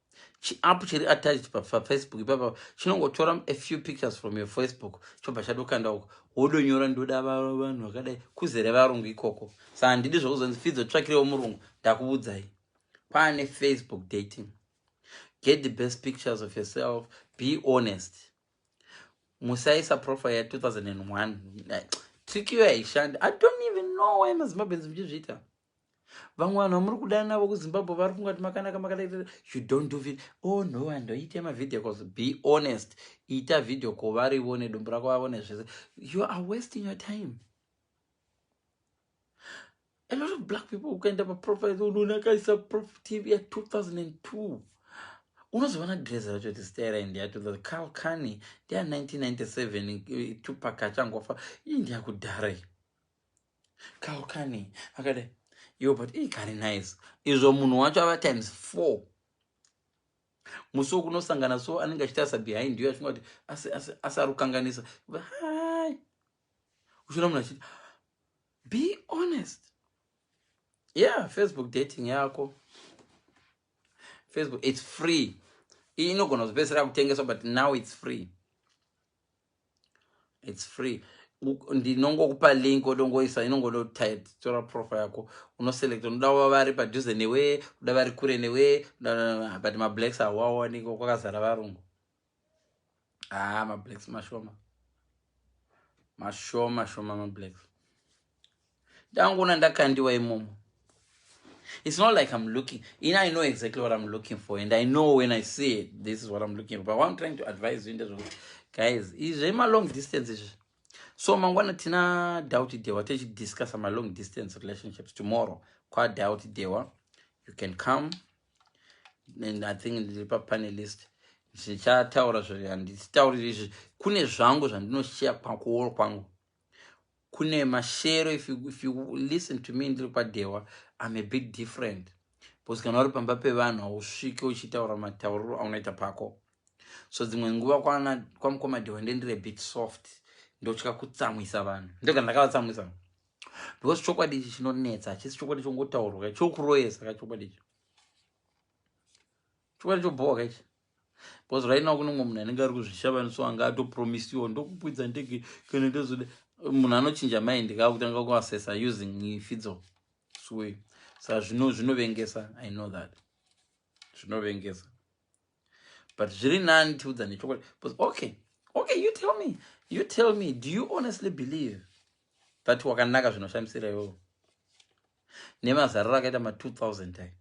chiapp chiri attached pafacebook ipapa chinongotora a few pictures from your facebook chobva chatokanda uko wodonyora ndoda vanhu vakadai kuzere varungu ikoko sa handidi zvokuzonzi fidzo tsvakirewo murungu ndakuvudzai kwane facebook dating get the best pictures of yourself be honest musaisa profile ya 2001 trikiyo yaishanda i don't even know why mazimbabwens muchizviita vamwe vanhu vamuri kudana navo kuzimbabwe vari funga kuti makanaka makadaita you don't do video oh no vanhu vaite mavideo cause be honest ita video ko varivo nedumbu rako vavone zvese you are wasting your time a lot of black people ukaenda paprofile unoona akaisa prof tv ya 2002 unozoona drese racho kuti zita raindi ya 2000 carl cani ndiya 1997 tupak achangofa ii ndiyakudhara iyo Kau kani akadai yo but ii kari nice izvo munhu wacho ava times four musi wokunosangana so anenge achitarisa behind yo achinga kuti asi asi asi ari kukanganisa hai uchiona munhu achiti be honest yeah facebook dating yako facebook it's free iyi inogona kuzopedzisira kutengeswa but now it's free its free ndinongokupa link odongoisa inongonotora profa yako unoselect unoda wa vari padhuze newe uda vari kure newe but mablacks hawawaniki kwakazara varungu haa ah, mablacks mashoma mashoma shoma mablacks ndangoona ndakandiwa imomo it's not like i'm looking in i know exactly what i'm looking for and i know when i see it this is what i'm looking for but what i'm trying to advise you ndezvokuti guys izve malong distance izvi so mangwana tina doubt dewa tichidiscussa malong distance relationships tomorrow kwadoubt dewa you can come and i think ndiri papanelist zvichataura zvihanditauriri izvi kune zvangu zvandinoshaya kwakuoro kwangu kwa kune mashero if you, if you listen to me ndiri kwadhewa im a bit different because kana uri pamba pevanhu hausvike uchitaura matauriro aunoita pako so dzimwe nguva kwamukoma dhewa ndendire bit soft ndotya kutsamwisa vanhu ndega ndakavatsamwisa because chokwadi ichi chinonetsa hachisi chokwadi chongotaurwa chokuroyesa ka chokwadi ichi chokwadi chobhowa ka ichi because right now kune mumwe munhu anenge ari kuzvishava so anga atopromisiwa ndokukwidza ndege kana ndazoda munhu anochinja mind kaa kutanga kuasesa using fidzo sure sa zvino zvinovengesa i know that zvinovengesa but zviri nani tiudza nechokwadi bcause okay okay you tell me you tell me do you honestly believe that wakanaka zvinoshamisira iwowo nemazariro akaita ma 2000 ayo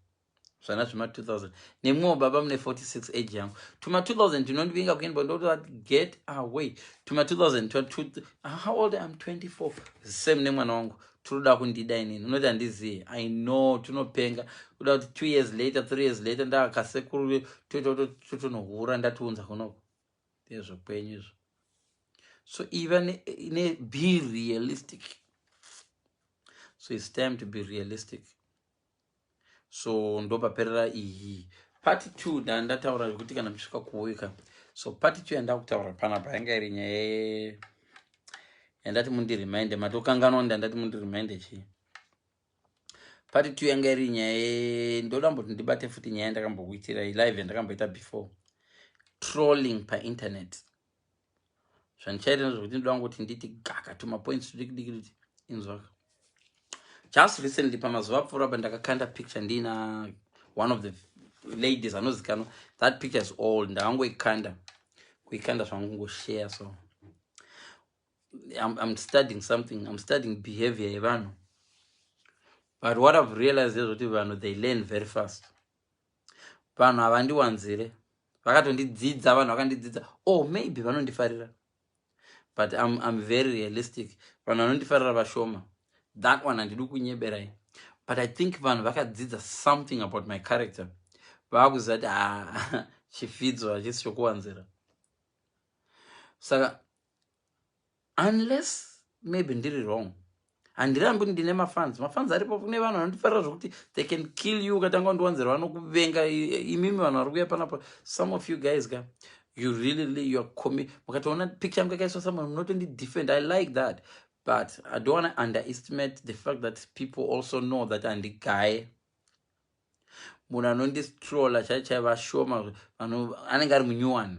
zvana zvema 2000 nemwewo baba mune 46 age yangu tuma 2000 tinondivinga kuendwa ndoti get away tuma 2000 how old am 24 same nemwana wangu tinoda kundida inini unoti handizive i know tunopenga kuda kuti two years later three years later ndakakasekuru totonohura ndatiunza kunoko ndezvo kwenyu izvo so iva ne, ne be realistic so its time to be realistic so ndopaperera iyi part two ndandataura zvekuti kana musvika kuuika so part two yandakutaura panapa yanga iri nyaya yandati mundirimind matokanganwa ndandati mundirimind chii part two yanga iri nyaya ndoda mboti ndibate futi nyaya yandakambokuitirai live yandakamboita before trolling painternet zvandichaita ndezvekuti ndinoda kungoti nditi gaka to mapoints tudikidiki kuti inzwaka just recently pamazuva apfuura pa ndakakanda picture ndiina one of the ladies anozikanwa that picture is old ndakangoikanda kuikanda zvangu ngoshare so I'm, I'm studying something I'm studying behavior yevanhu but what I've realized is kuti vanhu they learn very fast vanhu havandiwanzire vakatondidzidza vanhu vakandidzidza o oh, maybe vanondifarira but I'm, I'm very realistic vanhu vanondifarira vashoma that one handidi kunyeberai but i think vanhu vakadzidza something about my character vaakuziva kuti ha ah, chifidzo hachisi chokuwanzira saka unless maybe ndiri wrong handirambi ndine mafans mafans aripo kune vanhu vanotifarira zvekuti they can kill you ukatanga undiwanzira vanokuvenga imimi vanhu vari kuya panapa some of you guys ka you really really you are comi mukatoona picture yangu yakaiswa someone munotondi defend i like that but i don't want to underestimate the fact that people also know that andigaye munhu anondistrola chaichai vashoma anenge ari munyuwani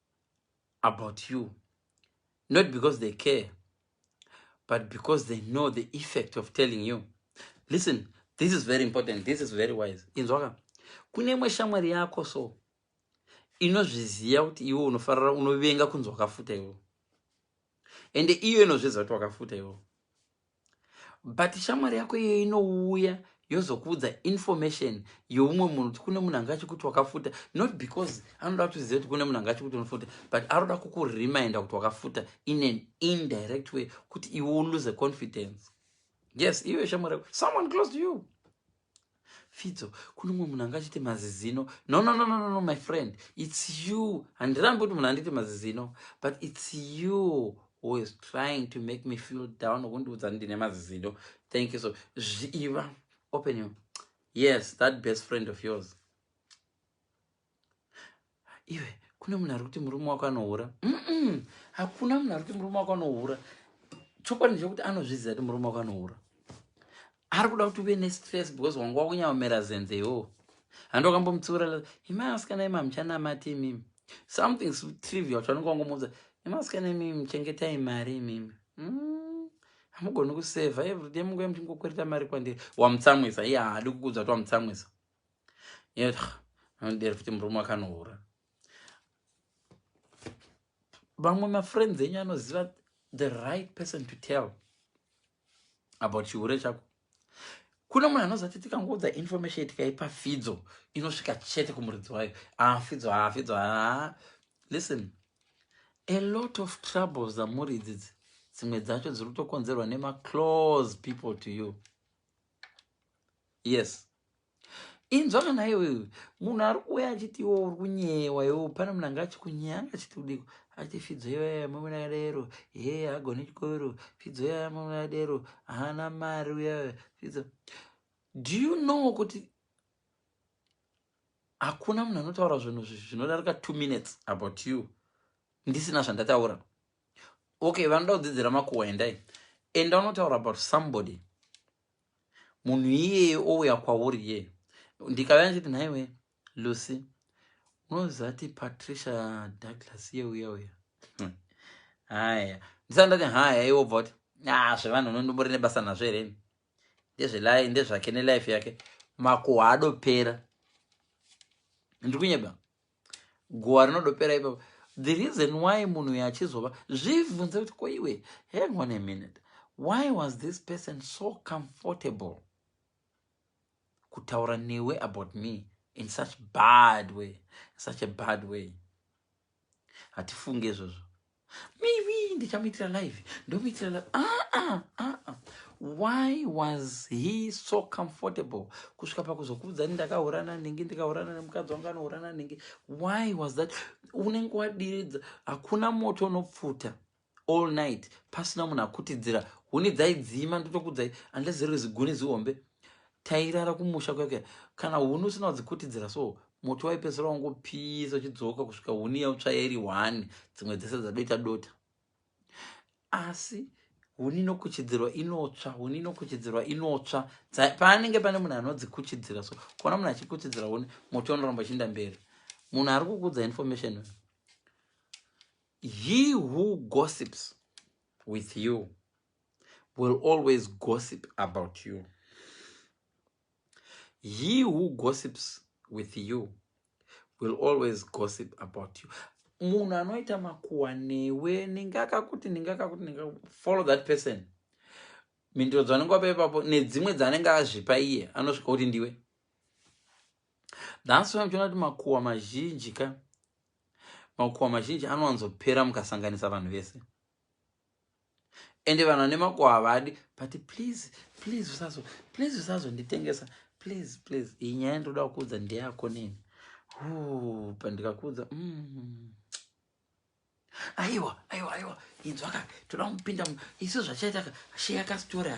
about you not because they care but because they know the effect of telling you listen this is very important this is very wise inzwaka kune imwe shamwari yako so inozviziva kuti iwe unofarira unovenga kunzi wakafuta iwo ende iyo inozviziva kuti wakafuta iwo but shamwari yako iyoyo inouya yozokuudza information youmwe munhu kuti kune munhu anga achikuti wakafuta not because anoda kutiziva kuti kune munhu anga achikuti unofuta but aroda kukureminder kuti wakafuta in an indirect way kuti iwe ulose confidence yes iwe shamwari yako someone close to you Fidzo, kune umwe munhu anga achiti mazizino. No, no, no, no, no, no, my friend. It's you. Handirambi kuti munhu anditi mazizino. But it's you who is trying to make me feel down. Kundiudza ndine mazizino. Thank you so. Zviiva. Open you. Yes, that best friend of yours. iwe kune munhu ari kuti murume wako anohura hakuna munhu ari kuti murume wako anohura chokwadi ndechekuti anozviziva kuti murume wako anohura ari kuda kuti uve nestress because wanga wakunyamamera zenze yoo handi wakambomutsiura imasikana imi hamuchanamati imimi something trivial chaunenge wangomuudza imasikana imimi muchengetai mari imimi mm. hamugoni kusevha everyday munguya muchingokwereta mari kwandiri wamutsamwisa iye haadi kukuudza kuti wamutsamwisa anodero futi murume akanohura vamwe mafriends enyu anoziva the right person to tell about chihure chako kune munhu anoziva kuti tikangoudza information tikaipa fidzo inosvika chete kumuridzi wayo afidzo ah, afidzo ah, aa ah, listen a lot of troubles amuri idzidzi dzimwe dzacho dziri kutokonzerwa nemaclose people to you yes inzwa kana iwe munhu ari kuuya achiti iwe uri kunyeyewa iwe pane munhu anga achikunyeya anga achiti kudiko achiti fidzo iyaya mamuna adero he agone chikoro fidzo iyaya mamuna adero haana mari uyaya fidzo do you know kuti hakuna munhu anotaura zvinhu zvinodarika two minutes about you ndisina zvandataura okay vanoda kudzidzira makuwa endai enda unotaura about somebody munhu iyeye ouya kwauri ye ndikauya ndichiti nhaiwe lucy unozati patricia douglas iye uya uya hmm. haya ndisati ndati haya iwe obva kuti a zvevanhu unondimbori nebasa nazvo here ndezvelai ndezvake nelife yake makuhwa adopera ndiri kunyeba guwa rinodopera ipapo the reason why munhu uyo achizova zvibvunze kuti ko iwe hang on a minute why was this person so comfortable kutaura newe about me in such bad way in such a bad way hatifunge izvozvo maybe ndichamuitira live ndomuitira live ah, ah, ah, ah. why was he so comfortable kusvika pakuzokuudza ni ndakaurana nenge ndikaurana nemukadzi wangu anourana nenge why was that unenge wadiridza hakuna moto unopfuta all night pasina munhu akutidzira huni dzaidzima ndotokudzai unless ziri ziguni zihombe Tairara kumusha kuya kuya kana huni usina kudzikutidzira so moto waipedzisira wangopisa uchidzoka kusvika huni yautsvaya iri one dzimwe dzese dzadota dota asi huni inokuchidzirwa inotsva huni inokuchidzirwa inotsva paanenge pane munhu anodzikuchidzira so kuona munhu achikuchidzira huni moto unoramba uchiinda mberi munhu ari kukudza information he who gossips with you will always gossip about you he who gossips with you will always gossip about you munhu anoita makuwa newe ningakakuti ningakakuti follow that person mhinduro dzanenge wapa ipapo nedzimwe dzanenge azvipa iye anosvika kuti ndiwe thats why muchiona kuti makuwa mazhinji ka makuwa mazhinji anowanzopera mukasanganisa vanhu vese ende vanhu vane mako havadi but please please usazo please usazonditengesa please please iyi nyaya ndoda kukuudza ndeyako nini hu pandikakuudza mm. aiwa aiwa aiwa inzwaka toda kupinda isu zvachaitaka sheyakastoraka